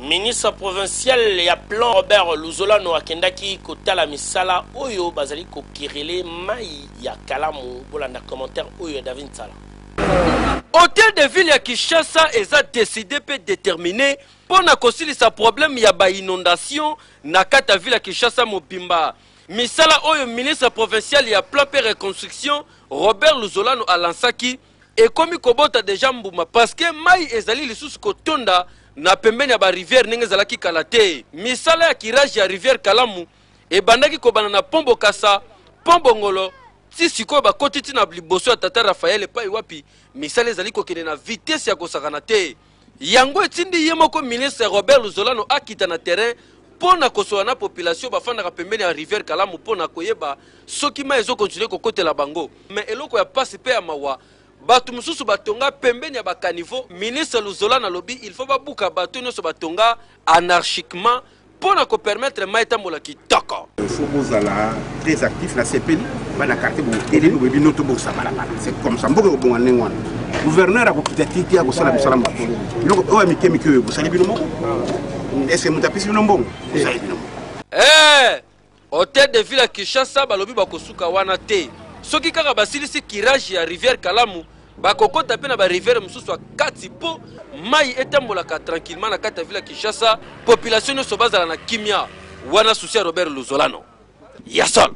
Ministre provincial ya plan Robert Luzolano akendaki kotala misala oyo bazali kokerele mai ya kalamu. Bolanda commentaire oyo ya David Nsala. Hotel de ville ya Kinshasa eza decide mpe determine mpo na kosilisa problème ya ba inondation na kati ya ville ya Kinshasa mobimba. Misala oyo ministre provincial ya plan mpe reconstruction Robert Luzolano alansaki ekomi kobota deja mbuma parceke mai ezali lisusu kotonda na pembeni ya barivière ndenge ezalaki kala te misala ya kirage ya rivière kalamu ebandaki kobanda na pont bokasa pont bongolo ti sikoyo bakoti ti na liboso ya tata rafael epai wapi misala ezali kokende na vitese ya kosakana te Yango etindi ye moko ministre Robert Luzolano akita na terrain mpo na kosola na population bafandaka pembeni ya rivière Kalamu mpo na koyeba soki mai ezo continuer kokotela bango. Mais eloko ya pasi mpe ya mawa bato mosusu batonga pembeni ya ba caniveaux. Ministre Luzolana alobi il faut babuka bateau nyonso batonga anarchiquement. mpo na kopermettre mai etambola kitoko faut bozala très actif na sepeli bana quartier botelemi boyebi no tobongisa balabala c'est comme ça mboka ekobonga ndenge wana gouverneur akokita te te akosala mosala moke biloko oyo ya mike mike oyo bosali bino moko est ce que moto apesi bino mbongo bosali bino moko eh! hotel de ville ya kinshasa balobi bakosuka wana te soki kaka basilisi kirage ya rivière kalamu bakokota mpe na barivière mosusu ya kati mpo mai etambolaka tranquillement na kati ya ville ya kinshasa population nyonso bazala na kimia wana susi ya robert luzolano ya solo